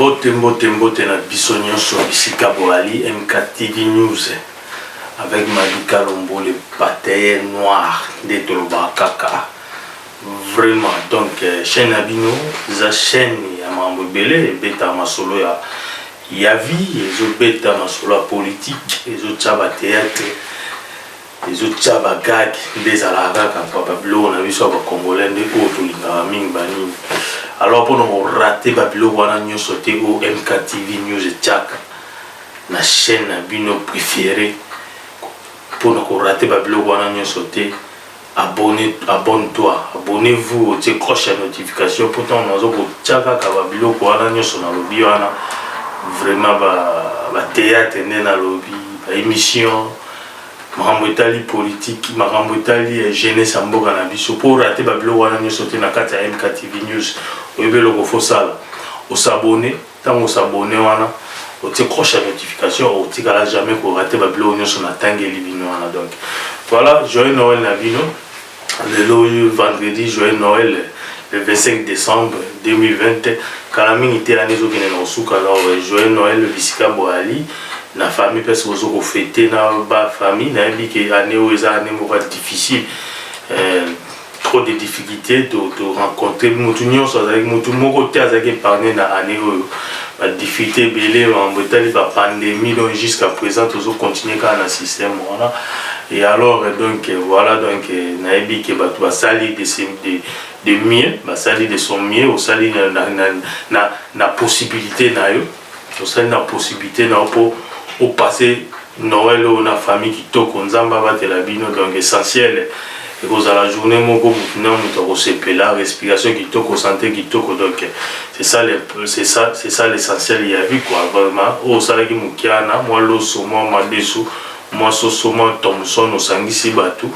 mbote mbote mbote na biso nyonso bisika boali mktv news avec malika lombo le bataye noir nde tolobaka kaka vraiment donc euh, chaîne ya bino eza chaîne ya mambo ebele ebetaka masolo ya ya vie ezo beta masolo ya politique ezo tia ba theatre ezo tia ba gag nde ezalaka kaka papa biloko na biso ya ba congolais nde oyo tolingaka mingi banini alors mpona korate ba biloko wana nyonso te oyo mk tv news etiaka na chaîne na bino préféré mpona korate ba biloko wana nyonso te Abonne abonne toi abonne vous otie cloche ya notification po ntango nazo kotia kaka ba biloko wana nyonso nalobi wana vraiment ba ba theatre nde nalobi ba emission makambo etali politique makambo etali eh, jeunesse ya mboka na biso mpo orate ba biloko wana nyonso te na kati ya MKTV news oyebi eloko fo sala osabone Tango o s'abonner wana otie croche ya notification otikala jamais ko rater ba biloko nionso na tangeli bino wana donc voilà joyeux Noël na bino lelo vendredi joyeux Noël le 25 décembre 2020 kala mingi te année ezokende na kosuka alors joyeux Noël bisika boyali na famille mpe soki ozo kofete na ba famille nayebi ke année oyo eza année moko difficile euh, trop de difficultés to to rencontrer mutu nyonso azalaki mutu moko te azalaki épargné na année oyo ba difficultés ebele mambo etali ba pandémie donc jusqu'à présent tozo continuer kaka na système wana et alors donc voilà donc nayebi ke bato basali de, de, de mieux basali de son mieux osali na, na, na, na possibilité na yo Tosali na possibilite na yo po o passer Noël oyo na famille kitoko. Nzambe abatela bino donc essentiel ekozala journee moko mutu na mutu akosepela, respiration kitoko, sante kitoko donc c'est ça le c'est ça c'est ça l'essentiel ya vie quoi vraiment. Oyo osalaki mukiana mwa loso, mwa madesu, mwa soso, mwa thomson osangisi batu.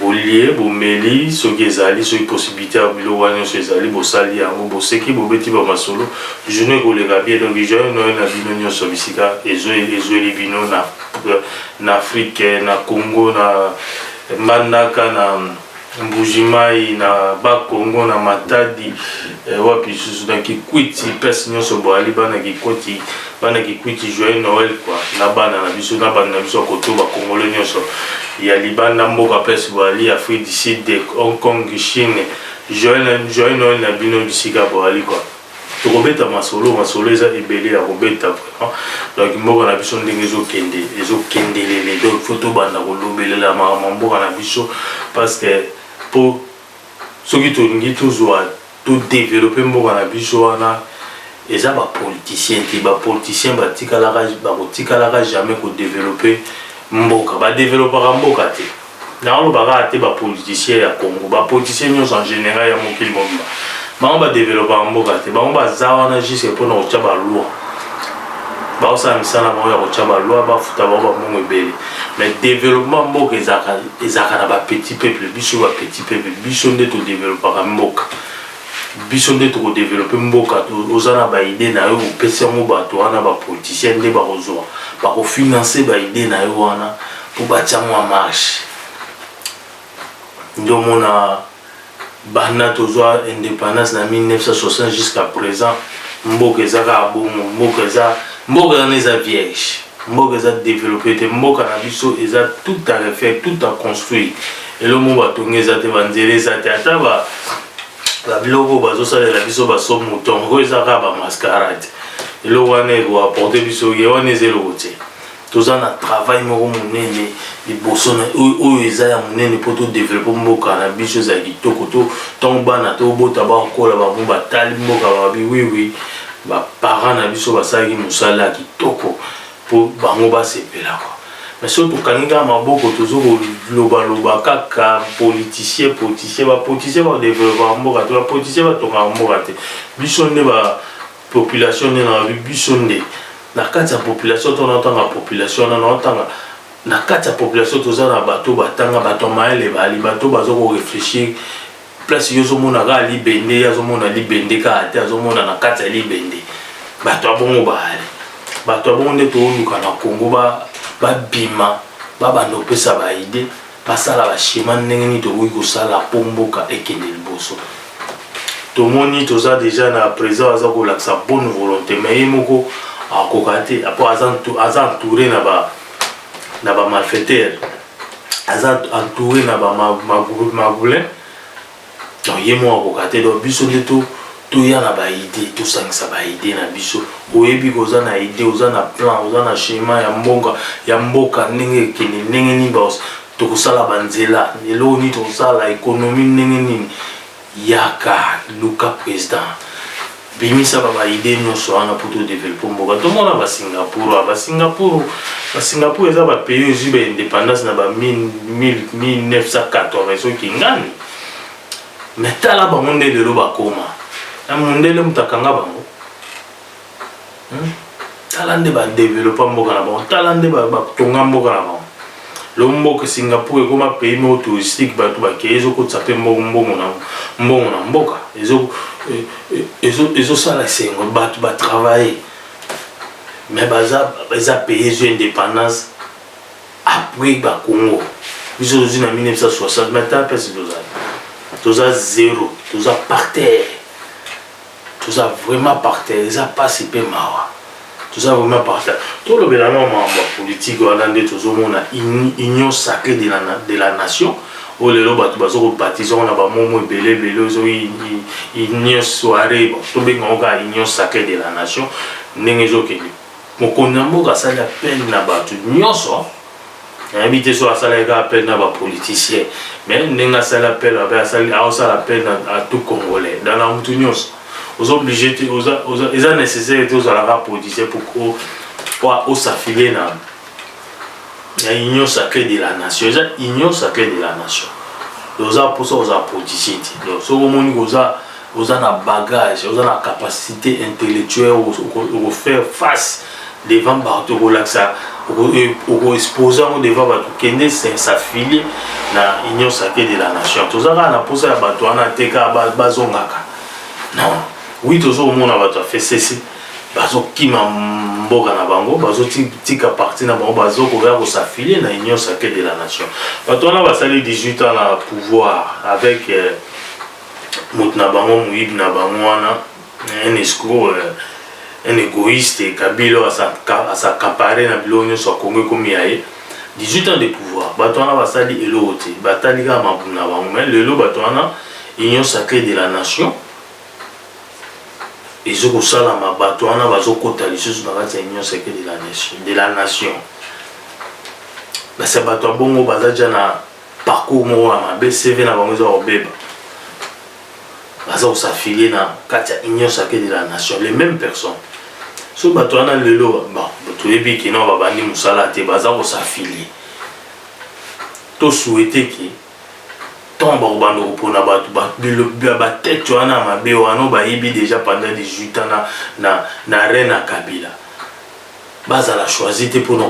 Bolie, bomeli, soki ezali, soki possibilite ya biloko wana nionso ezali, bosali yango, boseki, bobeti ba masolo, journee ekoleka bien. Donc joyeux Noël na bino nionso bisika ezueli bino na n'Afrique, na Congo, na Mbandaka, na Mbuji Mayi, na Bas Congo, na Matadi, wapi lisusu, na Kikwit, place nionso boali bana Kikwit. Bana Kikwiti joyeux Noël quoi na bana na biso na bana na biso koto ba congolais nyonso ya libanda mboka pes boali Afrique du Sud de Hong Kong Chine joyeux joyeux Noël na bino bisika boali quoi tokobeta masolo masolo eza ebele ya kobeta vraiment donc mboka na biso ndenge ezokende ezokendelele donc faut tobanda kolobelela makambo mboka na biso parce que po soki tolingi tozwa To developper mboka na biso wana eza ba politiciens te, ba politiciens batikalaka bakotikalaka jamais ko developper mboka, ba developaka mboka te, naoloba kaka te ba politiciens ya Congo, ba politiciens nionso en general ya mokili mobimba bango ba developaka mboka te, bango baza wana jusque pona kotia ba lois, baosala misala na bango ya kotia ba lois, bafuta bango ba mbongo ebele mais developpement ya mboka ezalaka ezalaka na ba petit peuple biso ba petit peuple biso nde to developaka mboka biso nde toko develope mboka oza na ba idee na yo opesi yango bato wana ba politicien nde bakozwa bakofinance ba idee na yo wana mpo batia mwa marche nde omona Banda tozua independance na 1960 jusqu'à present mboka eza kaka bongo mboka eza mboka wana eza vierge mboka eza developper te mboka na biso eza tout à refaire tout à construire eloko moko batongi eza te banzela eza te ata ba babiloko oyo bazosalela biso baso mouton oyo eza kaka bamascarade eloko wana ekoaporte biso ye wana eza eloko te toza na travail moko monene liboso na oyo eza ya monene mpo todevelope mboka na biso ezala kitoko to ntango bana tobota bakola bango batali mboka babi wiwi baparent na biso basalaki mosala ya kitoko mpo bango basepela kwa me soki tokangi kaka maboko tozo kolobaloba kaka politicien politicien bapoliticien badevelopa mboka te bapoliticien batongaka mboka te biso nde ba Population nde na lobi biso nde na kati ya population to na tanga population na na tanga na kati ya population toza na bato batanga bato ya mayele bali bato bazo ko réfléchir place yo ozomona kaka libende ye azomona libende kaka te azomona na kati ya libende bato ya bongo baali bato ya bongo nde tooluka na congo babima babanda kopesa baide Basala ba schema ndenge nini tokoki kosala mpo mboka ekende liboso. Tomoni toza deja na president aza kolakisa bonne volonté mais ye moko akoka te mpo aza entouré na ba na ba malfaiteurs aza entouré na ba magoulin donc ye moko akoka te donc biso nde to toya na baide tosangisa baide na biso oyebi koza na ide oza na plan oza na schéma ya mbonga ya mboka ndenge ekende ndenge nini baos tokosala banzela eloko nini tokosala ekonomi ndenge nini yaka luka président Bimisa ba ba idee nionso wana po to develope mboka. Tomona ba Singapurois, ba Singapour, ba Singapour eza ba pays ezwi ba independance na ba 1980 soki kingani. Mais tala bango nde lelo bakoma. Mundele mutu akanga bango? Hmm? tala nde badevelopa mboka na bango tala nde batonga mboka na bango lo mboka singapour ekoma pays moko touristique bato bakei ezokotisa mpe mbongo na mbongo na mboka ezosala e, e, esengo bato batravaille mais baza eza pays ezwi indépendance après bakongo biso tozwi na 1960 mais ta mpesi tozali toza zero toza par terre Toza vraiment par terre eza pasi pe mawa. Toza vraiment par terre. Tolobela nao makambo ya politique wana nde tozomona union sacree de la, de la nation oyo lelo bato bazo ko baptiser yango na ba mots mots ebele ebele oyo ezo union soiree bon tobenga yango kaka union sacree de la nation ndenge ezokende. Mokonzi ya mboka asali appel na bato nionso nayebi te soki asalaki kaka appel na bapoliticien mais ndenge asali appel ape asali aosala appel na tout congolais dans na motu nyonso oza oblige te eza nécessaire te ozalaka politicien po osafilie na na union sacré de la nation eza union sacré de la nation oza mposa kozala politicien te donc soki omoni koza oza na bagage oza na capacité intellectuelle oko faire face devant bato okolakisa okoexpose yango devant bato kende s'affilie na union sacré de la nation toza kaka na mposa ya bato wana te kaka bazongaka non wi tozomona bato ya fesese bazokima mboka na bango bazotika parti na bango bazokoya kosaffilie na union sacré de la nation bato wana basali 18 ans na pouvoir avec euh, mutu na bango moyibi na bango wana un escroc un egoïste kabila oyo asakapare na biloko nyonso ya kongo ekomi ya ye 18 ans de pouvoir bato wana basali eloko te batali kaka mabumu na bango mai lelo bato wana union sacrée de la nation ezo kosalama bato wana bazokota lisusu na kati ya union sacrée de la nation de la nation basi ya bato ya bongo baza ja na parcours moko ya mabe CV na bango eza kobeba baza kosafilie na kati ya union sacrée de la nation les mêmes personnes so bato wana lelo toyebi kino babandi mosala te baza kosafilie tosuete ke ntango bakobanda kopona bato batete wana ya mabe wana bayebi deja pendant 18 ans na, na, na reine ya kabila bazala choisi te mpona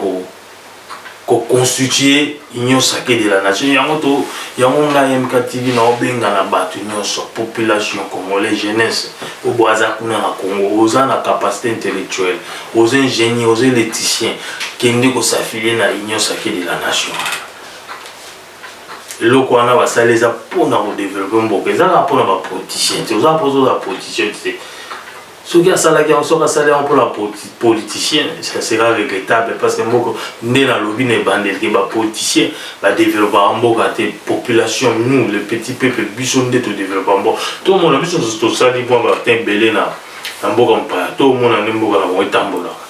ko constituer union sacrée de la nation yango to yango ngai MKTV na obenga na bato nyonso population congolais jeunesse obo aza kuna na Congo oza na capacité intellectuelle oza ingénieur oza électricien kende ko s'affilier na union sacrée de la nation eloko wana basali eza mpona kodevelope mboka ezalaka mpona bapoliticien te oza mpoza oza politicien te soki asalaki yango soki asali yango mpona politicien ça sera regrettable parce que moko nde nalobi na ebandeli ke bapoliticien badeveloppaka mboka te population nous le petit peuple biso nde todeveloppaka mboka tomona biso nyonso tosali mwa bata ebele na na mboka mopaya tomona nde mboka na bango etambolaka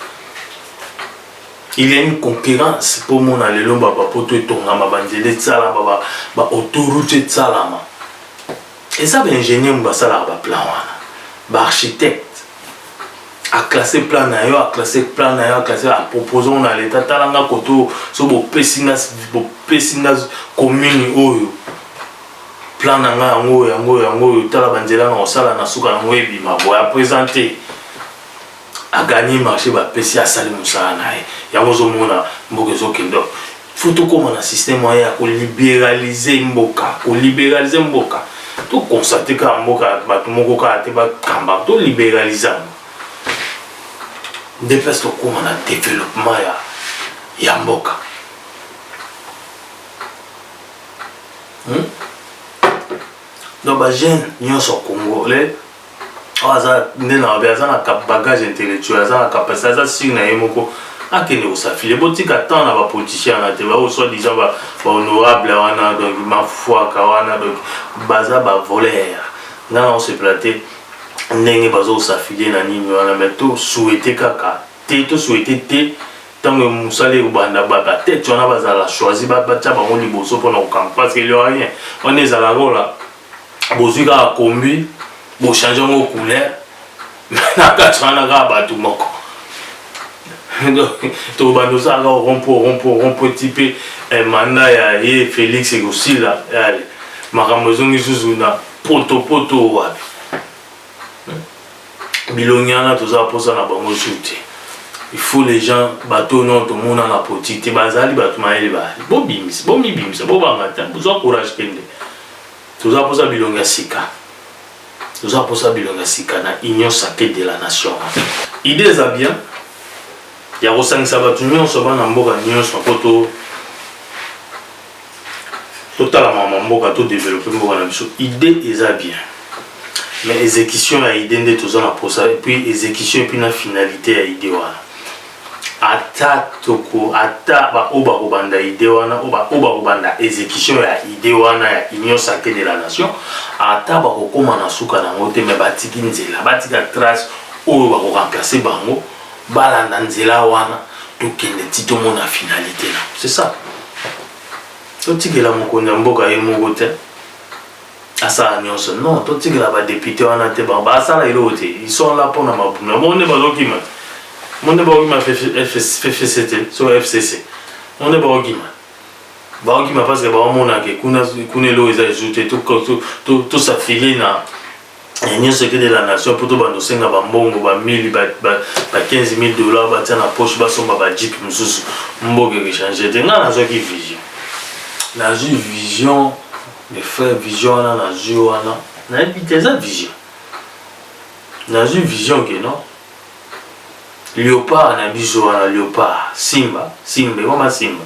il y a une concurrence mpo mona lelo babapoto etongama banzela esalama baautorute esalama eza ba ingénieur mu basalaka ba plan wana ba architecte aclasse plan na yo aclasse plan na yo aclasse apropose ngo na leta tala nga koto so bopesi nga bopesi nga commune oyo plan na nga yango yango yango oyo tala banzela na kosala na suka yango ebima boya présente a gagne marché ba pesi asali musala na ye yango ozomona mboka ezokende faut tokoma na système moyen ya kolibéralise mboka kolibéralise mboka tokonstate kaka mboka bato moko kaka te bakamba tolibéralise yango nde place tokoma na développement ya, ya mboka hmm? donc bajeune nyonso congolais oyo aza nde na mabe aza na bagage intellectuel aza na capacité aza sire na ye moko akende kosafile botika temps na bapoliticien wana te baoyo soit disant bahonorable wana donc mafuaka wana donc baza bavoler nga na osepela te ndenge bazokosafile na nini wana mai tosuete kaka te tosuete te ntango mosala ekobanda batete wana bazala choisi batya bango liboso mpona kokanga parce que lorien wana ezala kola bozwi kaka kombi bo change yango couleur na kati wana kaka bato moko tobanda osala kaka rompo rompo rompo ti mpe eh, manda ya ye felix ekosila yale makambo ezongi susu na potopoto wapi bilongi wana toza mposa na bango su te il faut les gens bato oyo nao tomona na poti te bazali bato mayele baali bobimisa bomibimisa bobanga te bozwa courage kende Toza posa bilongi ya sika. Toza posa bilongi ya sika na union sacrée de la nation. Idee eza bien ya kosangisa bato nyonso bana mboka nyonso mpo to totala mama mboka to develope mboka na biso idée eza bien mais exécution ya idée nde toza na posa epuis exécution epuis na finalité ya idée wana ata toko ata ba oyo bakobanda idee wana oyo bakobanda execution ya idee wana ya union sacrée de la nation ata bakokoma na suka na yango te mais batiki nzela batika trace oyo bakoremplace bango balanda nzela wana tokende ti tomona finalité na c'est ça totikela mokonzi ya mboka ye moko te asala nyonso non totikela badepute wana te bango basala eloko te ils sont là mpo na mabumu na bongo nde bazokima te bango nde bakokima ffc te so fcc bango nde bakokima bakokima parce que baomonake kuna eloko eza ezu te tosafili na ya nyonso eke de la nation mpo tobanda kosenga bambongo ba 1000 ba, ba, ba 15 000 dollars batia na poche basomba bajipe mosusu mboka ekechange te ngai nazwaki vision nazwi vision de frère vision wana nazwi wana nayebi te eza vision nazwi vision ke non leopard na biso wana leopard simba simba ekoma simba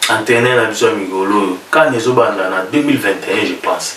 antene na biso ya mikolo oyo kani ezobanda na 2021 je pense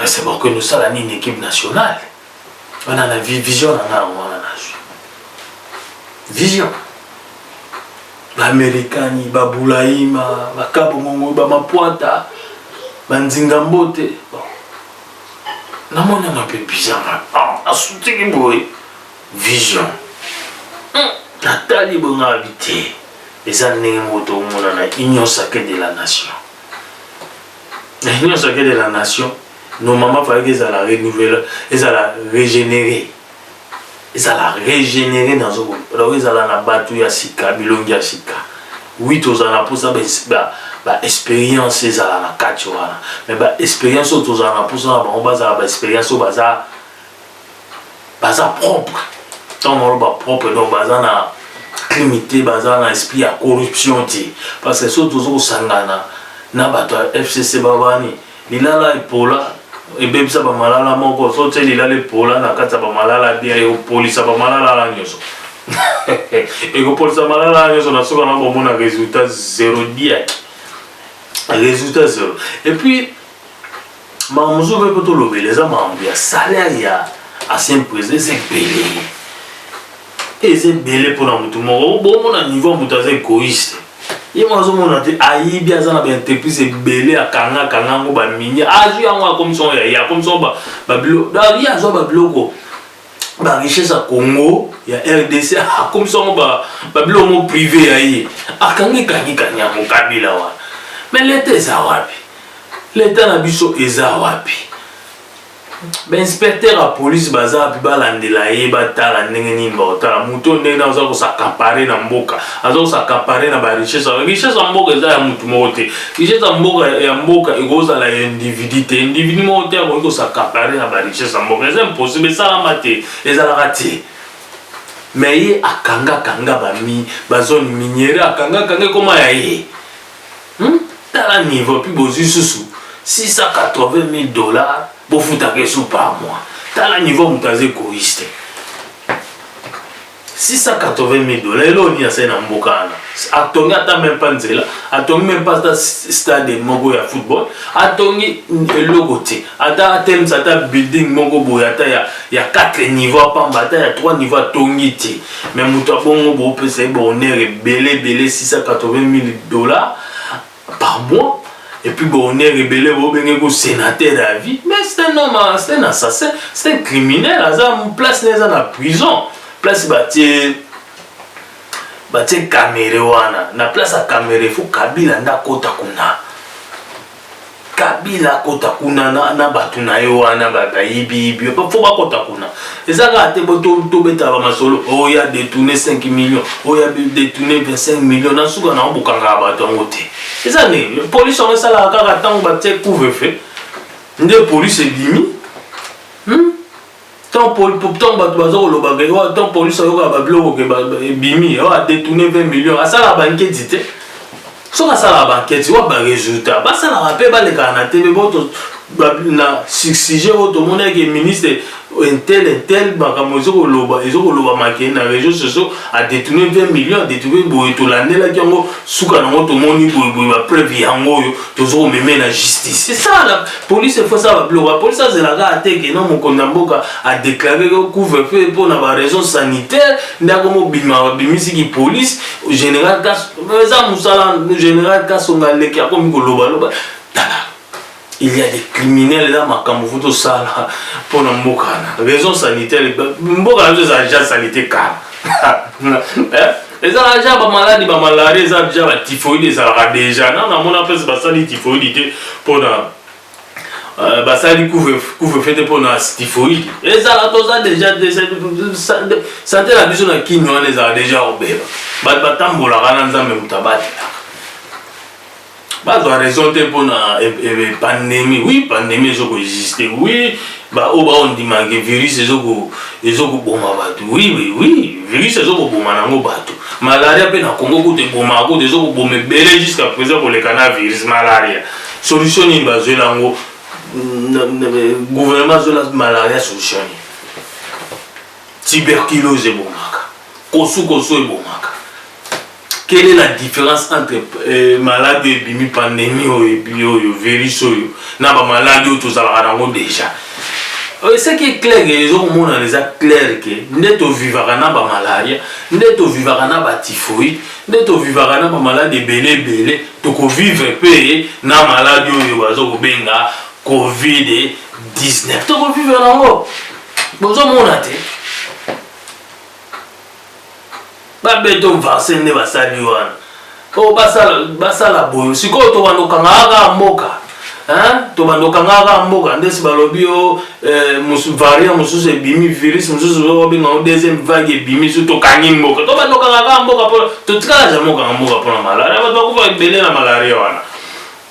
Nasema okende osala nini equipe nationale wana na vision na ngai yango wana nazwi vision baamerikani babulaima bakabongongo bamapwata banzinga mbote namonana mpe bizanga asutiki ah, boye vision hmm, natali boye ngai abi te eza ndenge moko tokomona na union sacre de la nation na nyonso akende na nation normalement falaki ezala renouvelle ezala régénéré ezala régénéré nazobona donc ezala na bato ya sika bilongi ya sika wi tozala na mposa baexpérience ba ezala na kati wana mais baexpérience oyo tozala na mposa na bango bazala baexpérience oyo baza baza propre ntango naloba propre donc baza na crime te baza na esprit ya corruption te parce que soki toza kosangana na bato ya fcc babani lilala epola ebebisa bamalala moko so tie lilala epola na kati ya bamalala bien ekopolisa bamalala na nyonso ekopolisa malala na nyonso na soki wana komona résultat zero diaki résultat zero epuis Makambo mosusu mpe mpo tolobela eza makambo ya salaire ya ancien président eza ebele eza ebele mpo na motu moko bomona niveau ya moto aza egoïste ye moko azomona te ayibi aza na baentreprise ebele akanga akanga yango baminie azwi yango akomisa yango ya ye akomisa yango babilo ye azwa babiloko ba richesse ya congo ya rdc akomisa yango babilo yango prive ya ye akangi kangikani yango kabila wana me leta eza wapi leta na biso eza wapi bainspecteur ya polise baza wapi balandela ye batala ndenge nini baotala moto ndenge na aza kosakapare na mboka aza kosakapare na barichesse richesse ya mboka eza ya motu moko te richesse ya mboka ya mboka ekozala ya individu te individu moko te akoki kosakapare na barichesse ya mboka eza impossible esalama te ezalaka te me ye akangakanga bami bazone miniere akangakanga ekoma ya ye hmm? tala niveau mpe bozwi susu 680 000 dollars bofutaka esu par mois tala niveau moto aza egoïste 680 mille dollars eloko nini asali na mboka wana atongi ata meme pa nzela atongi meme pa ata stade moko ya football atongi eloko te ata atelemisa ata building moko boye ata ya, ya 4 niveau apamba ata ya 3 niveau atongi te me moto abongo boopesa ye bahonneur ebele ebele 680 mille dollars par mois et puis bon on est rebelle bo benge ko sénateur à vie mais c'est un homme c'est un assassin c'est un criminel aza place na eza na prison place batie batie kamere wana na place ya kamere fo kabila nde akota kuna kabila akota kuna na, na bato na ye wana bayibiyibi fo bakota kuna eza kaka te tobetaka bamasolo oyo oh, ya detourne 5 million oyo oh, ya detourne 25 million na suka nango bokangaka bato yango te eza nini polisi yango esalaka kaka ntango batie couvre fe nde polisi ebimi hmm? Tant pour pour tant bato baza koloba ke oyo tant police ayoka ba biloko ke ba ebimi oyo a détourner 20 millions asala ba nketi te soki asala ba nketi wa ba résultat basala ba pe baleka na TV boto na sujet oyo tomonaki ke ministre intel intel makambo ezo koloba ezo koloba make na réseaux sociaux a détourner 20 millions a détourner boye tolandelaki yango suka nango tomoni boye boye ba preuve yango oyo tozo meme na justice c'est ça la police faut ça blo ba police azela ka ateke non mokonda mboka a déclarer que couvre feu pour na ba raison sanitaire ndako mo bima ba bimisi ki police général kas eza musala général kas on a le ki akomi ko loba loba tala il y a des criminels là makambo faut to sala pour na mboka na raison sanitaire mboka na biso eza déjà sanité kala hein ezalaka ja bamaladi bamalari eza ja batifoide ezalaka deja na namona mpese basali tifoidi te mpona euh, basali couvrefe te mpona tifoidi ezala toza deja sante na biso na kini wana ezala deja kobeba bato batambolaka na nzambe moto abatela bazwa raison te mpo na e, e, pandémie oui pandémie ezo koexiste oui baoyo baondima ke virus ezokoboma bato oui oui oui virus ezokoboma nango bato malaria mpe na congo kutu ebomaka kutu ezokoboma ebele jusqu'à présent koleka na virus malaria solution nini bazwela yango gouvernement azwela malaria solution nini tuberculose ebomaka kosukosu ebomaka Quelle est la différence entre euh, malade oyo ebimi pandemie oyo ebi oyo virus oyo na bamaladi oyo tozalaka nango déjà euh, ce qui est clair que ezokomonana eza clair ke nde tovivaka na bamalaria nde tovivaka na batifoïde nde tovivaka na bamaladi ebele ebele tokovivre mpe na maladi oyo baza kobenga covid 19 tokovivre nango bozomona te Ba beton varse nde basali wana oyo basala basala boyo sikoyo tobanda okangaka kaka mboka tobanda okangaka kaka mboka ndesi balobi yo eh, variant mosusu ebimi virus mosusu obenga ngo deuxième vague ebimi su tokangi mboka tobanda okangaka kaka mboka mpo totikala jamai okanga mboka mpo na malaria bato bakufa ebele na malaria wana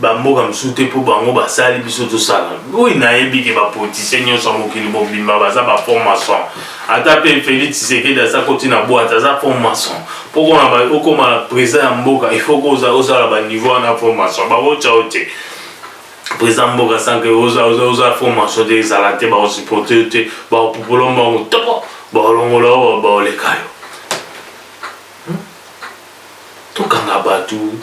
ba mboka mosusu te mpo bango basali biso tosala oyo nayebi ke bapolitisien nyonso ya mokili mobimba baza ba fond maçon ata mpe félix tshisekedi aza koti na bwate aza fond maçon mpo kona okoma président ya mboka ifaut ozala baniveau wana fond maçon bakotya yo te président mboka sanke oza fond maçon te ezala te bakosupporte yo te bakopupola mbango toko bakolongola yo baoleka yo tokanga batu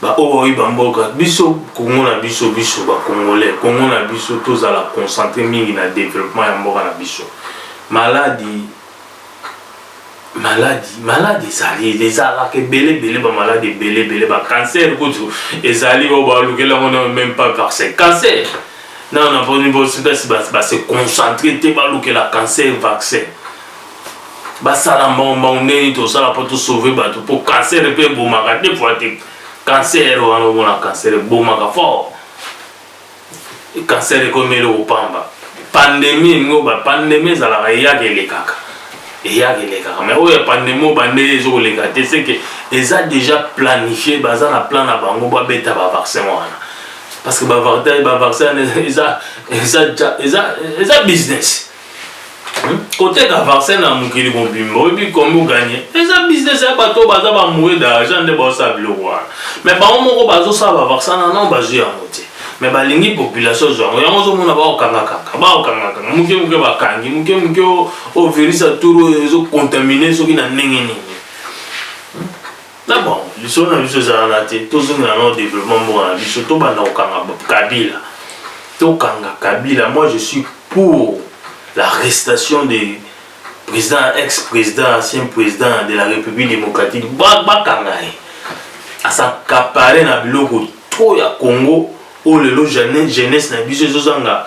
ba oyo baoyi ba mboka biso congo na biso biso ba congolais congo na biso tozala concentre mingi na developpement ya mboka na biso maladi maladi maladi ezali ezalaka ebele ebele ba maladi ebele ebele ba cancer kutu ezali oyo balukeli yango na meme pas vaccin cancer nao na boni bosipesi base concentre te balukela cancer vaccin basala mbongo mbongo ndeni tosala mpo tosauve bato mpo cancer mpe ebomaka de fois te cancer wana omona cancer ebomaka fort cancer ekomi eloko pamba pandemie elingi oba pandemie ezalaka eyaka elekaka eyaka elekaka mai oyo ya pandemie oyo bande ezokoleka te seke eza déjà planifie baza na plan na bango babeta bavaccin wana parce que bavaccin eza business koteka vaccin na mokili mobimba oyebi kombo gagne eza business ya bato baza bamoye d'argent nde baosala biloko wana me bango moko bazosala bavaccin na nao bazwi yango te me balingi population ezwa yango yango ozomona baokangakanga baokangakanga moke moke bakangi moke moke ovirisa tour oyo ezocontamine soki na ndenge nini Na bango lisolo na biso eza wana te, tozongela nao developpement mboka na biso, tobanda kokanga Kabila, tokanga Kabila, moi je suis pour la restation de président ex président ancien président de la République démocratique bakanga ye asakapare na biloko trop ya Congo oyo lelo jeunesse na biso ezozanga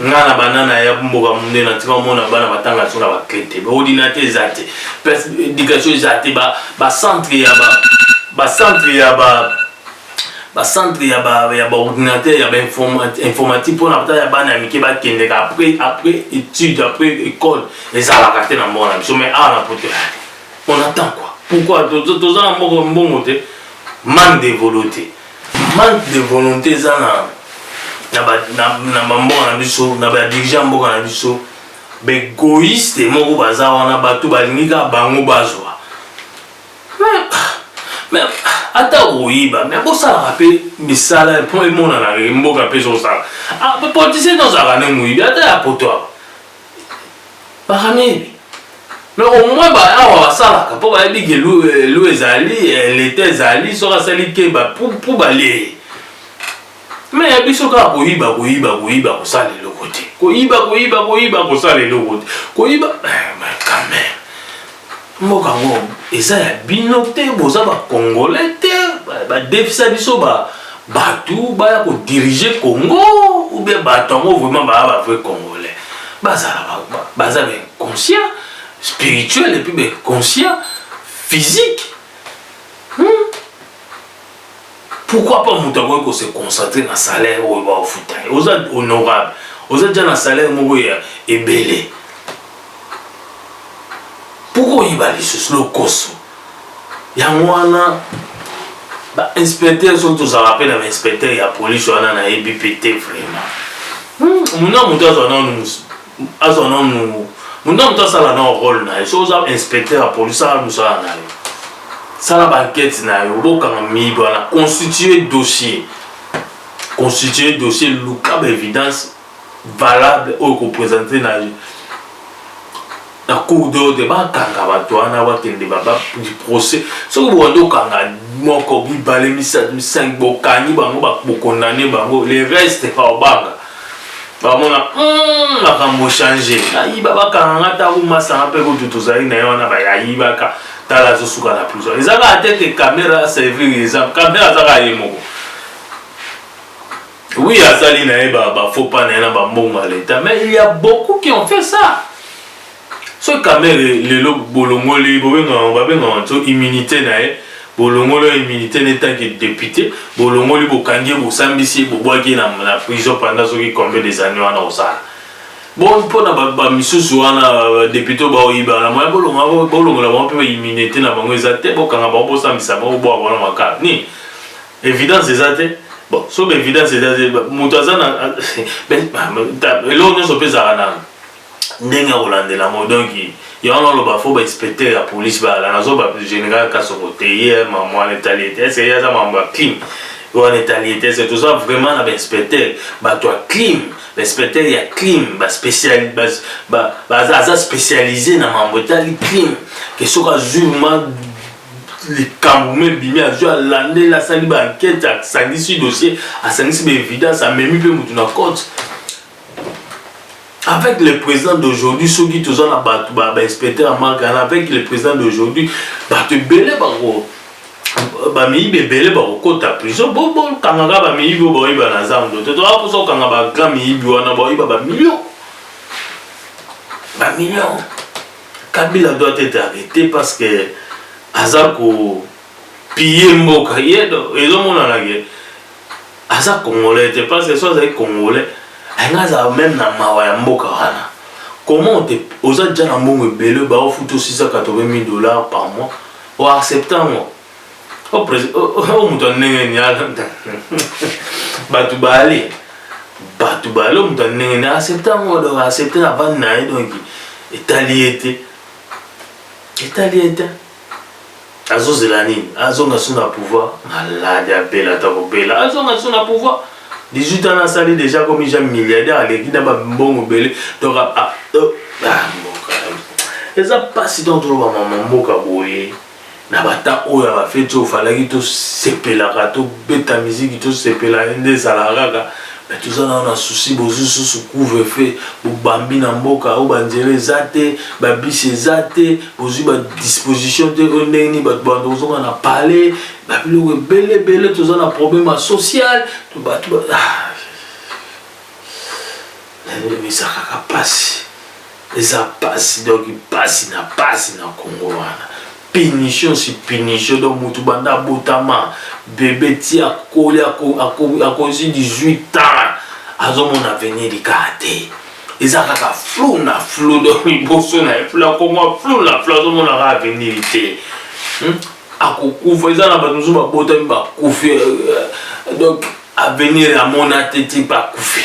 nga na banana ya mboka munde na tika omona bana batanga so na baclé te baordinateur eza te place éducation eza te bacentre ya bacentre ya ba bacentre ya baordinateur ya bainformatique mpona ata ya bana ya mike bakendeka après après étude après école ezalaka te na mboka na biso mais awa na poto on attend quoi pourquoi toza na mbongo te mande devolo te Manque de volonté eza na na ba na, na ba mboka na biso na ba dirigeants mboka na biso begoiste moko baza wana bato balingi kaka bango bazwa mais ata koyiba mais bosalaka mpe misala mpo emonanaka mboka mpe ezosala ah, politiciens tozalaka nde moyibi ata ya poto Bakamiyebi. Mais au moins ba awa basalaka mpo bayebi ke lu ezali leta ezali soki asali te mpo balie mais ya biso kaka koyiba koyiba koyiba kosala eloko te koyiba koyiba koyiba kosala eloko te koyiba eh, mais quand même Mboka ngo eza ya bino te, boza ba congolais te, ba defisa biso ba batu baya ko diriger Congo ou bien batu yango vraiment ba ba vrai congolais. Bazala ba baza ba inconscient spirituel et puis ba inconscient physique. Hmm? pourquoi pas moto akoki kose concentre na salaire oyo baofuta ye oza honorable oza ja na salaire moko ya ebele pourkoi oyiba lisusu lokoso yango wana bainspecteur soki tozalaka mpe na bainspecteur ya polise wana nayebi mpe te vraiment muna hmm, moto azwa nanu azwa nanu moto na moto asala nao role na ye so oza inspecteur ya polisi sala mosala na yo sala bankete na yo bokanga miyibi wana constitue dossier constitue dossier luka baévidence valable oyo kopresente na na cour d'ordre bakanga bato wana bakende procès soki bokende okanga moko mibale misato misangi bokangi bango bokondane bango le reste obanga bamona hmm, makambo change ayiba bakanga nga ntango masanga mpe kutu tozali na ye wana bayayibaka tala azosuka na prison eza kaka te ke kamera servir exemple kamera aza kaka ye moko oui azali na ye bafaux pas na ye na bambongo ya leta mais il y a beaucoup qui ont fait ça Soki kamere lelo bolongoli bobengango babengango nso immunite na ye bolongoli ya immunite ne tant que depute bolongoli bokangi ye bosambisi ye bobwaki ye na prison pendant soki combien des annees wana osala bo mpo na ba misusu wana depute oyo baoyiba na moya bolongola bango mpe ba immunite na bango eza te bokanga bango bosambisa bango bobwaka bango na makala nini evidence eza te bon soki ba evidence eza te moto aza na eloko nyonso mpe ezalaka na ndenge ya kolandela yango donc yango naloba fo bainspecteur ya police bayala nazoba général kasongo te ye mambo wana etali ete ese ye aza mambo ya crime wana etali ete ese toza vraiment na bainspecteur bato ya crime bainspecteur ya crime aza spécialise na mambo etali crime ke soki azwi ma likambo mo ebimi azwi alandeli asali baankete asangisi dossier asangisi baevidence amemi mpe motu na cote avec le président d'aujourd'hui soki toza na bato bainspecteur ya marke wana avec le président d'aujourd'hui bato ebele bango bamiyibi ebele bakokota prison bokangaka bamiyibi oyo baoyiba na zando te toa mposa kokanga bagrand miyibi wana baoyiba bamilio bamilio kabila doit être arrêté parce que aza kopille mboka ye ezomonanake aza congolais te parce que so azali congolais alinga azala meme na mawa ya mboka wana comment te oza deja na mbongo ebele baofuta 680 dollars par mois oaccepte yango o moto ya ndenge ni bato baali bato baali o moto ya ndenge ni accepte yango donc accepte na bande na ye donc etali ye te etali ye te azozela nini azonga su na pouvoir malade abela ata kobela azonga su na pouvoir 18 ans asali deja komi ja milliardaire aleki na bambongo ebele donc ah, ah, ah, eza mpasi donc toloba mama mboka boye na bata oyo ya bafeti oyo falaki tosepelaka tobeta miziki tosepela nde ezalaka kaka Mais toza nanu na souci bozui susu couvre feu bo bambi na mboka oyo ba nzela eza te ba bus eza te bozui ba disposition te oyo ndenge nini batu banda kozonga na palais ba biloko ebele ebele toza na problème ya social to batu ba ah, na ndimi eza kaka pasi Eza pasi donc pasi na pasi na congo wana punition si punition donc mutu banda abotama bebe ti akoli akozi 18 ans azomona avenir likaa te eza kaka flou na flou donc liboso na ye flou akoma flou na flou azomona kaka avenir te hmm? akokufa eza na bato mosusu babotami bakufi euh, euh, donc avenir amona te ti bakufi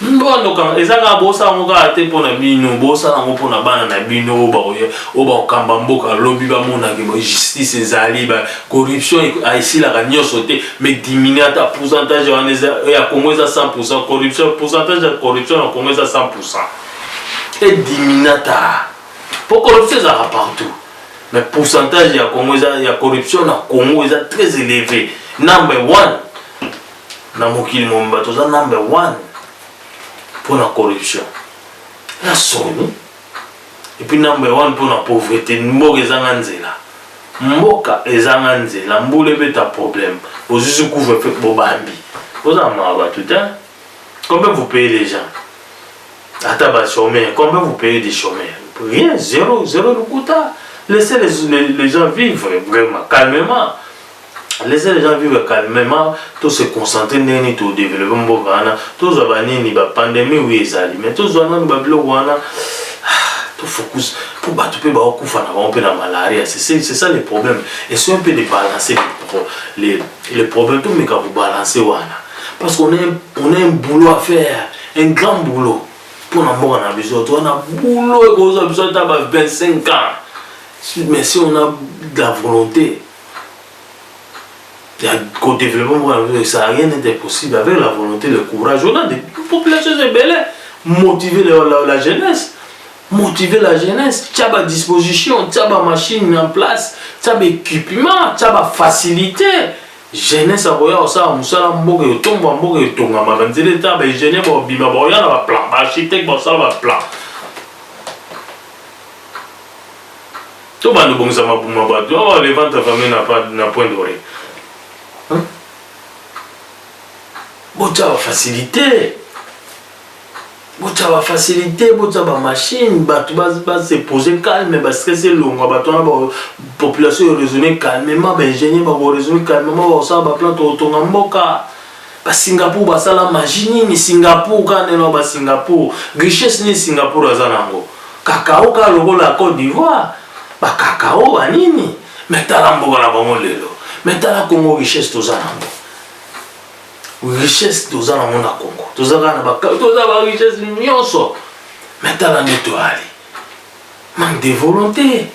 ndondo kaka eza kaka bosala yango kaka te mpo na bino bosala yango mpo na bana na bino oyo bakokamba mboka lobi bamonake ba justice ezali ba corruption esilaka nyonso te mais diminue ata pourcentage wana ya congo eza 100 pourcent corruption pourcentage ya corruption na congo eza 100 pourcent ediminue ata mpo corruption ezalaka partout mais pourcentage ya congo eza ya corruption na congo eza très élevé number one Na mokili mobimba toza number one pona corruption na soni epuis number one pona pauvrete mboka ezanga nzela mboka ezanga nzela mbula ebeta problème ozuzi couvre feu bobambi boza na mawa bato te combien vous payez les gens ata ba chômeurs combien vous payez des chômeurs rien zéro zéro lokuta laissez les, les, les gens vivre vraiment calmement laissez les gens vivre calmement to se concentrer ndenge nini to développer mboka wana tozwa banini ba pandemie oui ezali mais tozwa nanu ba biloko wana to focus mpo bato mpe baokufa na bango mpe na malaria c'est ça le problème esoyo mpe de balancer le, le problème tomeka kobalancer wana parce qu'on a un boulot à faire un grand boulot mpo na mboka na biso to wana boulot ekozwa biso ata ba 25 ans mais si on a de la volonté ya ko developpement mboka na biso ça a rien d'être possible avec la volonté le courage on a des populations ebele motiver la, la, la jeunesse motiver la jeunesse tya ba disposition tya ba machine en place tya ba équipement tya ba facilité jeunesse akoya kosala mosala mboka etombwa mboka etongamaka nzela eta ba ingénieur baobima baoya na ba plan ba architecte basala ba plan To bando bongisa mapuma bato. Oh, le ventre famille n'a pas n'a point de rien. Hein? Botya ba facilité. Botya ba facilité, botya ba machine, bato ba ba se poser calme, ba stress elongwa, bato wana ba population raisonner calmement, ba ingénieur ba raisonner calmement, ba sala ba plan to tonga mboka. Ba Singapour basala magie nini Singapour kaka ndenge na ba Singapour richesse nini Singapour aza na yango cacao kaka lokola Cote d'Ivoire ba cacao ba nini mais tala mboka na bango lelo mais tala Congo richesse toza na yango richesse toza na yango na Congo toza kaka na ba toza ba richesse nyonso mais tala nde toali manque de volonté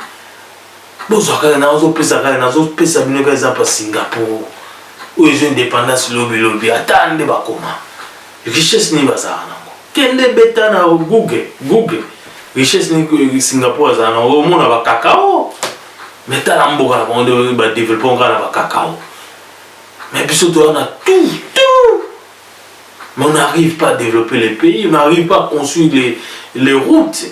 bozwa kaka na ozopesa kaka nazopesa bino kaka eza pa singapour oyo ezo indépendance lobi lobi ata nde bakoma richesse nini bazala nango kende beta na google google richesse nini singapour azala nango omona bakakao me tala mboka na bango nde badeveloppe ngai na bakakao me biso toza na tout tout mais on n'arrive pas à développer les pays on n'arrive pas à construire les, les routes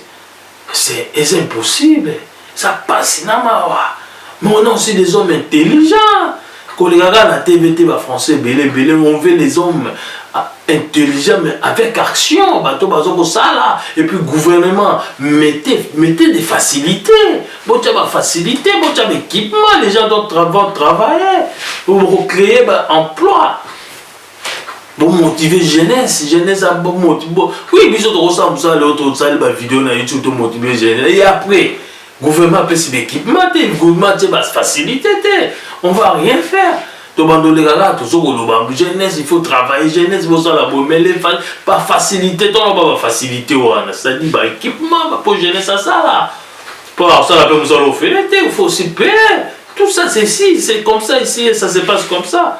C'est eza impossible eza pasi na mawa mais on a aussi des hommes intelligents koleka kaka na tv te ba français ebele ebele on veut les hommes ah, intelligents mais avec action bato baza kosala et puis gouvernement mettez, mettez des facilités botya ba facilité botya baéquipement les gens doivent travailler bocréer ba emploi bomotive jeunesse jeunesse abomotibo oui biso tokosala mosala leo tosali bavideo na youtube tomotive jeunesse e après gouvernement apesi baéquipement te gouvernement tie bafacilité te on va rien faire tobandoleka kaka tozo koloba jeunesse il faut travailler jeunesse bosala bomele bafacilité toloba bafacilité wana c'est-à-dire baéquipement po jeunesse asala po akosala mpe mosala ofele te il faut aussi payer tout ça c'est si c'est comme ça ici ça se passe comme ça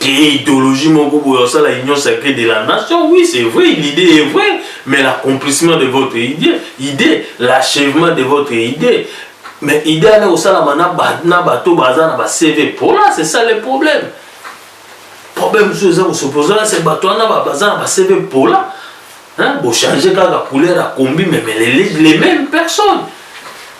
créer idéologie moko boye osala union sacrée de la nation oui c'est vrai l'idée est vraie mais l'accomplissement de votre idée idée l'achèvement de votre idée mais idée wana ekosalama na bato baza na bacv mpola c'est ça le problème problème mosusu eza kosopozana se bato wana baza na bacv mpola bochange kaka couleur ya kombi meme les mêmes personnes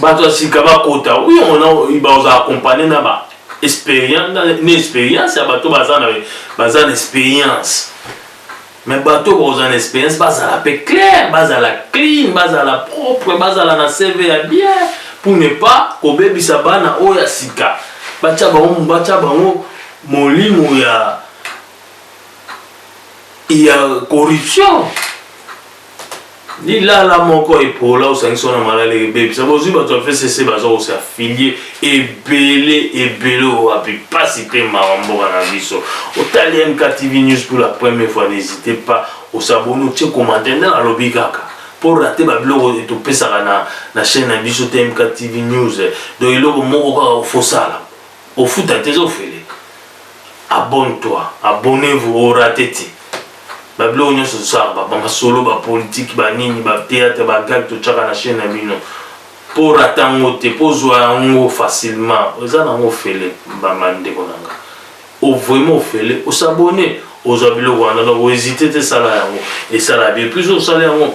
bato ya sika bakota oui on a baza accompagné na ba expérience na expérience ya bato baza na baza na expérience mais bato baza na expérience bazala pe clair bazala clean bazala propre bazala na CV ya bien pour ne pas kobebisa bana oyo ya sika batya bango batya bango molimo ya ya corruption Lilala moko epola osangisi wana malala ebebisa bozwi bato ya fcc baza kose afilie ebele ebele owapi mpasi mpe mawa mboka na biso otali mktv news pour la première fois n'hésite pas osaboni otie commentaire nde nalobi kaka mpo rate babiloko topesaka na, na chaîne na biso te mktv news donc eloko moko kaka ofosala Ofuta te ezo feleka abonne toi abonnez vous o rate te ba biloko nionso tosalaka ba masolo ba politique ba nini ba theatre ba gag totiaka na chaine na bino po orate yango te po ozua yango facilement eza na yango ofele mbamba ndeko na nga o vraiment ofele o s'abonner ozua biloko wana donc o hesite te sala yango esala bien plus osala yango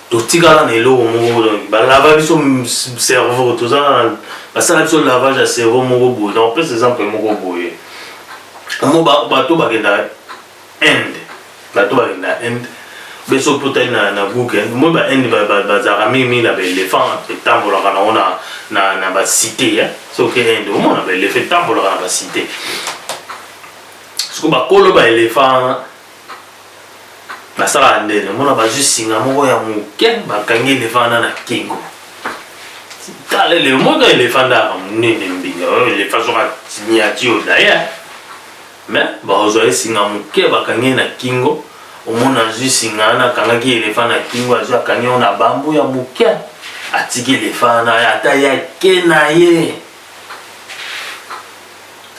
totikala na eloko moko donc balava biso cerveau toza basala biso lavage ya cerveau moko boye donc pesa exemple moko boye mo bato bakenda inde bato bakenda inde beso mpo otali na google eh, moi ba inde bazalaka mingi mingi na baelephant etambolaka nango na bacité eh. soki inde omona baelephant etambolaka na bacité soko bakolo baelephant Nasalaka nde namona bazwi singa moko ya moke bakangi elefanda na kingo tala ele moto elefanda yaka monene mbinga oyo elefa soka miniature daya me bakozwa ye singa moke bakangi na kingo omona azwi singa wana akangaki elefa na kingo azwi akangi yango na bambu ya moke atiki elefa wana ata yake na ye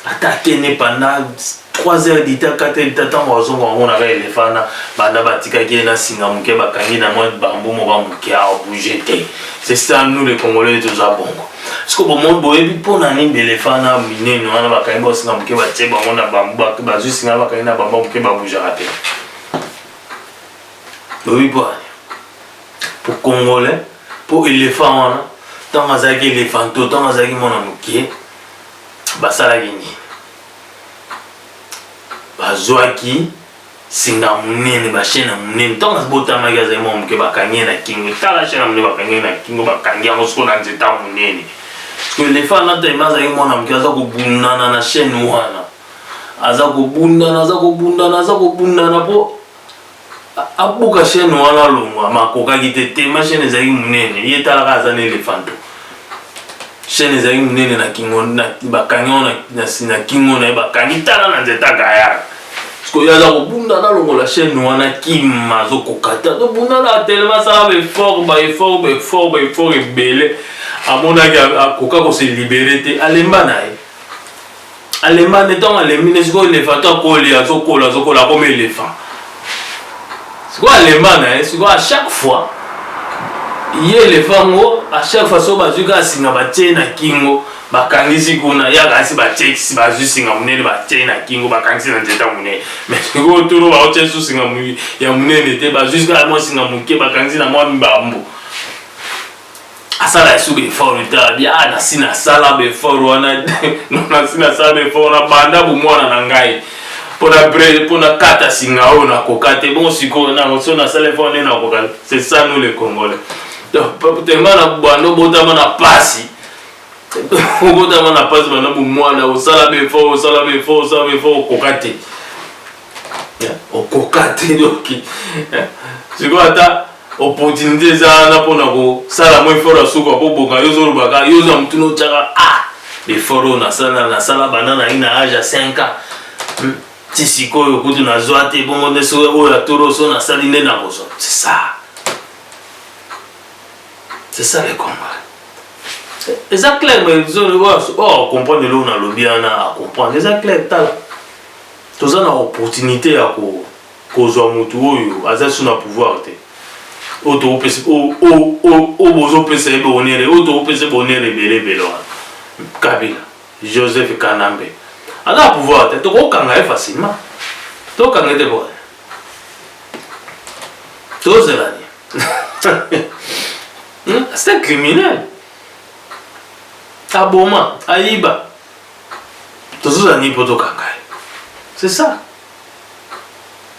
ata akende pendant 3 heures du temps 4 heures du temps ntango azonga bamonaka elefa wana banda batikaki ye na singa moke bakangi na mwa bambu moka moke abouge te c'est ça nous les congolais toza bongo siko bomoni boyebi mpo na nini belefa na minene wana bakangi bao singa moke batie bango na bambu bazwi singa bakangi na bambu moke baboujaka te boyebi mpo po congolais po elephant wana ntango azalaki elephanto ntango azalaki mwana moke basalaki nini bazwaki singa monene bashene ya monene ntango abotamaki azali mwa moke bakangi ye na kingo tala shene ya monene bakangi ye na kingo bakangi yango soko na nzeta monene siko elefa anataima azalaki mwana moke aza kobundana na shene wana aza kobundana aza kobundana aza kobundana mpo abuka chaîne wana alongwa makokaki te tema chaîne ezalaki monene ye talaka aza na elefanto chaîne ezalaki monene na kingo bakangi yango na kingo na ye bakangi tala na nzete agayaka sikoyo aza kobunda nalongola chaîne wana kima azokoka te azobunda na telema asala baeffort baeffort baeffort baeffort ebele amonaki akoka kose libere te alemba na ye Alemba nde ntango alembi nde sikoyo elephant to akoli azokola azokola akomi elephant sikoyo alemba na ye sikoyo à chaque fois ye elephant ngo à chaque fois soko bazwi kaka singa batie na kingo bakangisi kuna yaka asi batie bazwi singa monene batie na kingo bakangisi na nzeta monene mais sikoyo tolo baotia su singa ya monene te bazwi kaka mwa singa moke bakangisi na mwa mbambu asala ya suka effort etala bia ah, nasi nasala baeffort wana nasi nasala baeffort wana banda bomwana na ngai mpona bre mpona kata singa oyo nakoka te bon sikoyo nango so nasala effort nde nakoka c'est ça nous les congolais donc tellement na banda obotama na pasi obotama na pasi banda bomwana osala baeffort osala baeffort osala baeffort okoka te okoka te donc sikoyo ata Opportunite eza wana pona ko sala mwa effort ya suka po boka yo ozo loba ka yo oza mutu no tiaka ah effort oyo na sala na sala banda na ina age ya 5 ans hmm. ti sikoyo kutu na zwa te bongo nde so oyo ya toro so na sali nde na kozwa c'est ça c'est ça le combat eza clair mais zo le voir oh comprendre le na lobi ana a comprendre eza clair tala toza na opportunité ya ko Kozwa mutu oyo aza lisusu na pouvoir te oyo tokopesa oyo bozopesa ye bonere oyo tokopesa bonere ebele ebele wana kabila joseph kanambe aza na pouvoir te tokokanga ye facilement tokanga te boye tozela ni hmm? c'est un criminel aboma ayiba tozozala nini mpo tokanga ye c'est ça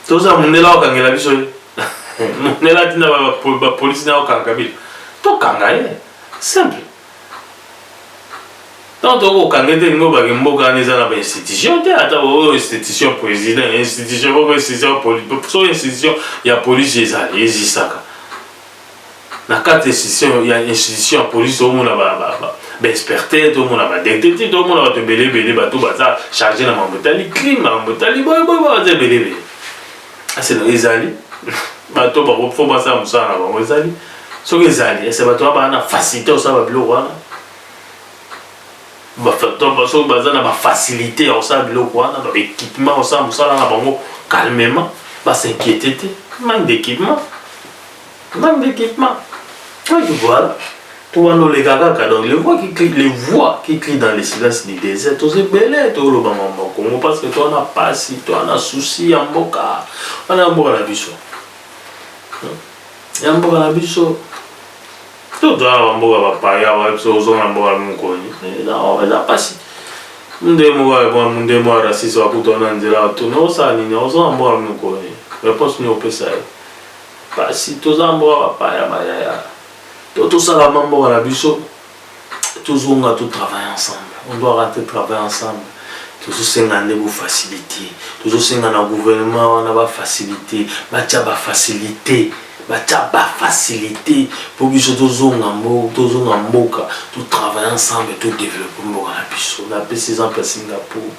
toza mundela okangela biso ye mundela atinda bapolisi na okanga kabila tokanga ye simple ntango tokoki kokanga ete elingi obake mboka wana eza na bainstitution te ata oyo institution président institution moko institution so institution ya polisi ezali ezisaka na kati ya institution ya institution ya police tokomona baexperte tokomona badetective tokomona bato ebele ebele bato baza charge na makambo etali crime makambo etali boyeboye baza ebele ebele aseno ezali bato bakofo basala mosala na bango ezali soki ezali ese bato babaa na facilité osala babiloko wana bato oyo baza na bafacilite ya kosala biloko wana na baequipement ya kosala mosala na bango calmement basinquiete te manque d'équipement manque d'équipement donc voilà to wana oleka kaka donc les voix qui crient les voix qui crient dans le silence du désert toza ebele toloba mambo ya kongo parce que toana pasi toana souci ya mboka wana ya mboka na biso ya mboka na biso Tout dans la bamboka ba paya ba biso ozonga mboka mukoni. Eza oh, eza pasi. Munde moko ya bon munde moko ya raciste wa kutu na nzela to no sa nini ozonga mboka mukoni. Réponse ni opesa ye. Pasi toza mboka ba paya ba yaya. To to sala mboka na biso. Tozonga to travailler ensemble. On doit rentrer travailler ensemble. tozosenga nde bofacilité tozosenga na gouvernement wana bafacilité batya bafacilité ba Batia ba facilite po biso tozonga mboka, tozonga mboka, to travailler ensemble to developper mboka na biso. Na pesi exemple ya Singapour.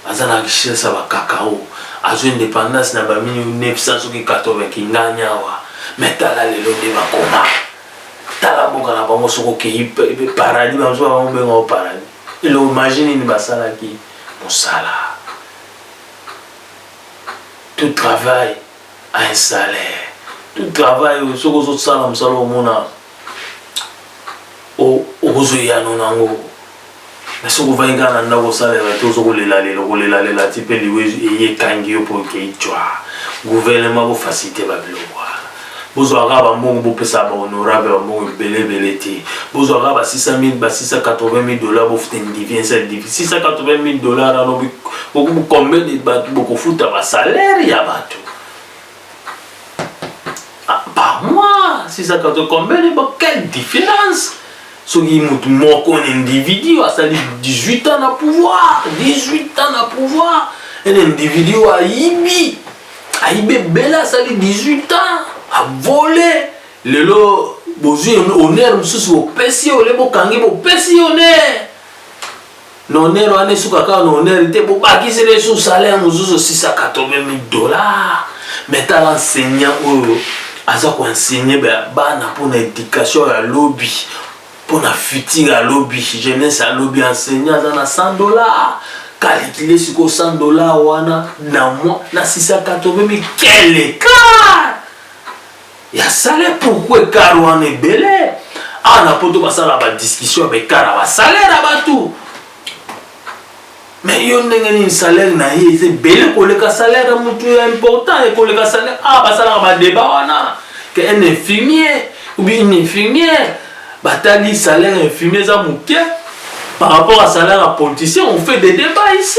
Aza na richesse ya ba cacao. Azui independance na ba 1900 soki 80 kingani awa. Mais tala lelo nde bakoma. Tala mboka na bango soki okeyi paradis ba mususu ba benga yango paradis. Eloko magie nini basalaki? Musala. To travaille. a un salaire tout travail oyo soki ozo sala musala omona okozwa eyano na yango mais soki ovandi kaka na ndako osalela te ozo kolela lela okolela lela ti pe liwa eye ekangi yo po okei cwa gouvernement bo facilite ba biloko wana bozwa kaka bambongo bopesa ba honorable bambongo ebele ebele te bozwa kaka ba 600 ba 680 dollars bofute ndivi un seul divi 680 dollars ano Bokubu combien de bato bokofuta ba salaire ya bato ah, par mois 680 combien de bato quelle différence soki motu moko un individu asali 18 ans na pouvoir 18 ans na pouvoir un individu oyo ayibi ayibi ebele asali 18 ans avole lelo bozwi honneur mosusu bopesi ye ole bokangi bopesi ye honneur Na honneur wana esuka kaka na honneur te, bobakisi lisusu salaire mosusu 680 mille dollars. Mais tala enseignant oyo aza ko enseigner bana mpo na education ya lobi mpo na futur ya lobi jeunesse ya lobi enseignant aza na 100 dollars calcule sikoyo 100 dollars wana na mois na 680 mille quel écart ya salaire pourquoi ekar wana ebele awa na poto basala badiscussion ya baekar ya basalaire ya bato me yo ndenge nini salaire na ye eza ebele koleka salaire ya motu ya important ekoleka salaire awa basalaka badeba wana ke un infirmier oubien une infirmière batali salaire ya infirmier eza moke par rapport à salaire ya politicien on fait des débats ici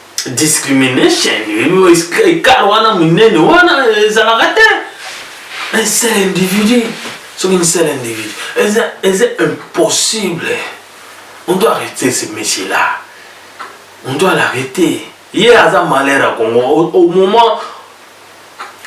discrimination ekala wana monene wana ezalaka te un seul individu soki un seul individu eza eza impossible on doit arrêter ce monsieur là on doit l'arrêter ye aza malheur ya congo au moment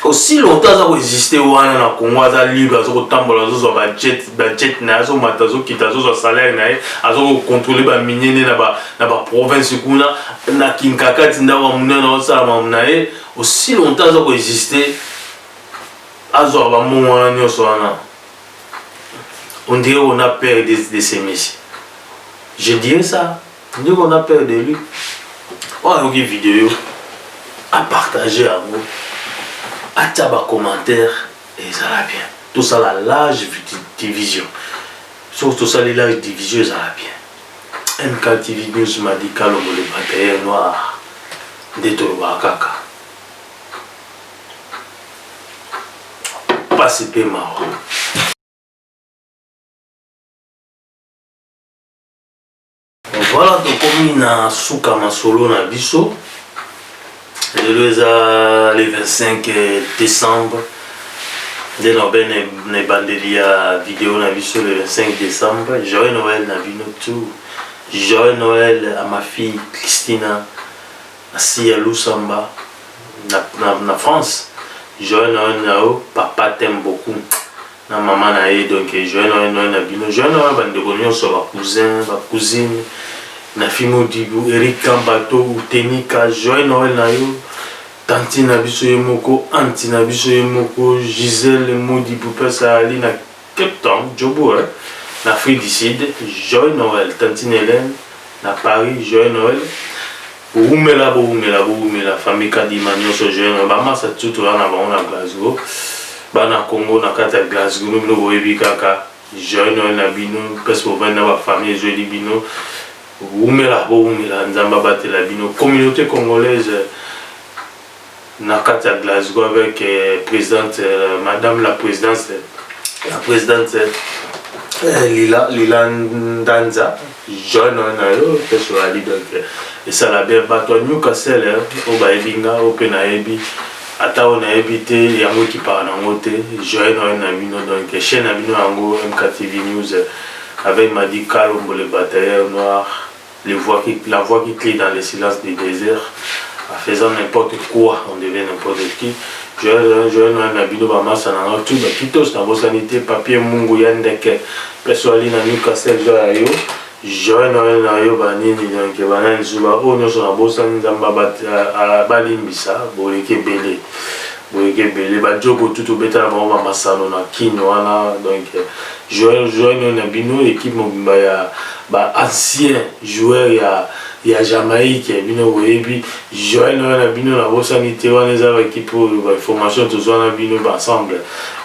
aussi longtemps aza ko existe wana na Congo aza libre azo kotambola azo zwa ba jet ba jet na azo mata azo kita azo zwa salaire na ye azo ko contrôler ba minier na ba na ba province kuna na Kinkakati ndako munene na osala mamu na ye aussi longtemps aza ko existe azwa ba mbongo wana nyonso wana on dirait on a peur de, de ces messieurs je dirais ça Ndeko na père de lui oyo ayoki video a partager yango atia ba commentaire ezala bien tosala large division soki tosali large division ezala bien MKTV News Madi Kalombo le batailleur noir nde tolobaka kaka pasi mpe mawa Voilà tokomi na suka masolo na biso lelo eza le 25 euh, décembre nde na obe na ebandeli ya video na biso le 25 décembre joyeux noël na bino tout joyeux noël à ma fille christina asi ya lusamba na, na, na france joyeux noël na yo papa t'aime beaucoup na maman na ye donc joyeux Noël Noël na bino joyeux Noël ba ndeko nionso ba cousins ba cousines na fimo dibu Eric Kambato Tenika joyeux Noël na yo tantine na biso ye moko anti na biso ye moko Gisèle Modibu place ali na Cape Town Joburg hein? na Afrique du Sud joyeux Noël tantine Hélène na Paris joyeux Noël Wumela bo wumela bo wumela famille Kadima nyoso jeune ba masa tout toza na bango na Glasgow bana Congo na kati ya Glasgow no bino boyebi kaka jeune oyo na bino presque bovandi na ba famille ezweli bino wumela bo wumela Nzambe abatela bino communauté congolaise na kati ya Glasgow avec presidente madame la presidente la presidente Lila Lila Ndanza John na yo peso ali donc esala bien bato ya Newcastle oyo bayebi nga oyo mpe nayebi ata oyo nayebi te yango ekipaka nango te joye noye na bino donc chaîne na bino yango mktv news avec madi kalombo le batailleur noir Le voix qui, la voix qui crie dans le silence du desert en faisant n'importe quoi on devient n'importe qui joyeux joyeux noël na bino bamasa na nga tu bakitos nabosani te papier mungu ya ndeke peso ali na newcastle joy ya yo joyeux noël na yo banini donc banani zuba oyo nyonso nabosani nzambe abalimbisa boleki ebele boyeke ebele ba jogo tout obetala bango ba masano na kin wana donc joueur joueur nini na bino équipe mobimba ya ba ancien joueur ya ya jamaïque bino boyebi joel noyo na bino nabosani te wana eza baekipe oyo bainformation tozwa na bino baensemble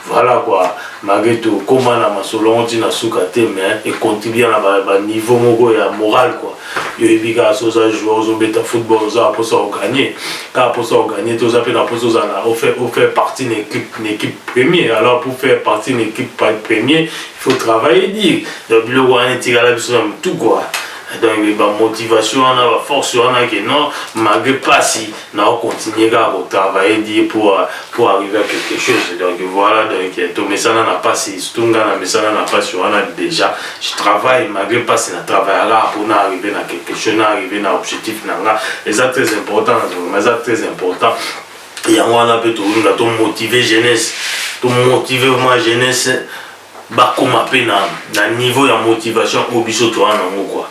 voilà kua malgré tokóma na masolo yango ntina suka te mais econtribue na baniveau moko ya moral kua yo oyebi kaka so oza joueur ozobeta football oza na posa oganye kaka posa oganye te oza mpe na posa ozala ofaire partie na équipe na équipe premier alors pour faire partie na équipe premier il faut travailler dire donc biloko wana etikala biso na motu kua donc bamotivation wana baforce wana ke non malgré mpasi na o continuer kaka ko travailler dur pour pour arriver à quelque chose donc voilà donc tomesana na pasi surtout nga na mesana na pasi wana déjà je travaille malgré pasi na travaille kaka pour na arriver na quelque chose na arriver na objectif na nga eza très important na vraiment eza très important yango wana mpe tolinga tomotive jeunesse tomotive vraiment jeunesse bakoma pe na na niveau ya motivation oyo biso toza nango quoi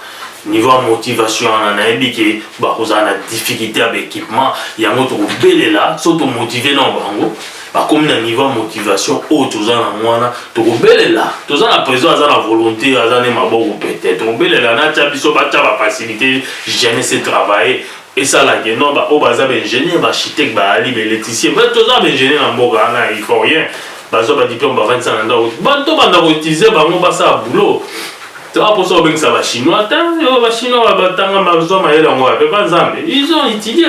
niveau ya motivation wana nayebi ke bakozala na difficulté ya baequipement yango tokobelela so tomotive na bango bakomi na niveau ya motivation oyo toza nango wana tokobelela toza na président aza na volonté aza ne maboko pete tokobelela natya biso batya bafacilité jeunesse travailler Esala que non ba oyo baza ba ingenieur ba architecte ba ali ba electricien ba toza na ba ingenieur na mboka wana il faut rien bazwa ba diplome ba vandisa na ndako ba to banda ko utiliser bango ba sala boulot to a posa ko bengisa ba chinois ta yo ba chinois ba tanga ba zwa mayele yango wapi epa nzambe ils ont utilie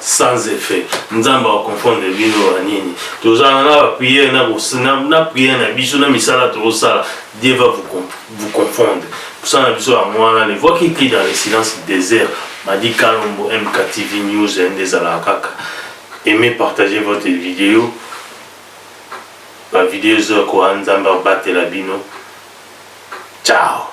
sans effet nzambe ako confondre bino ba nini tozala na ba prière na na prière na biso na misala tozosala dieu va vous, vous confondre mosala na biso yango wana ne voit qui crie dans le silence désert madi kalombo mktv news nde ezalaka kaka aimez partager votre vidéo ba vidéo ezokoa nzambe abatela bino ciao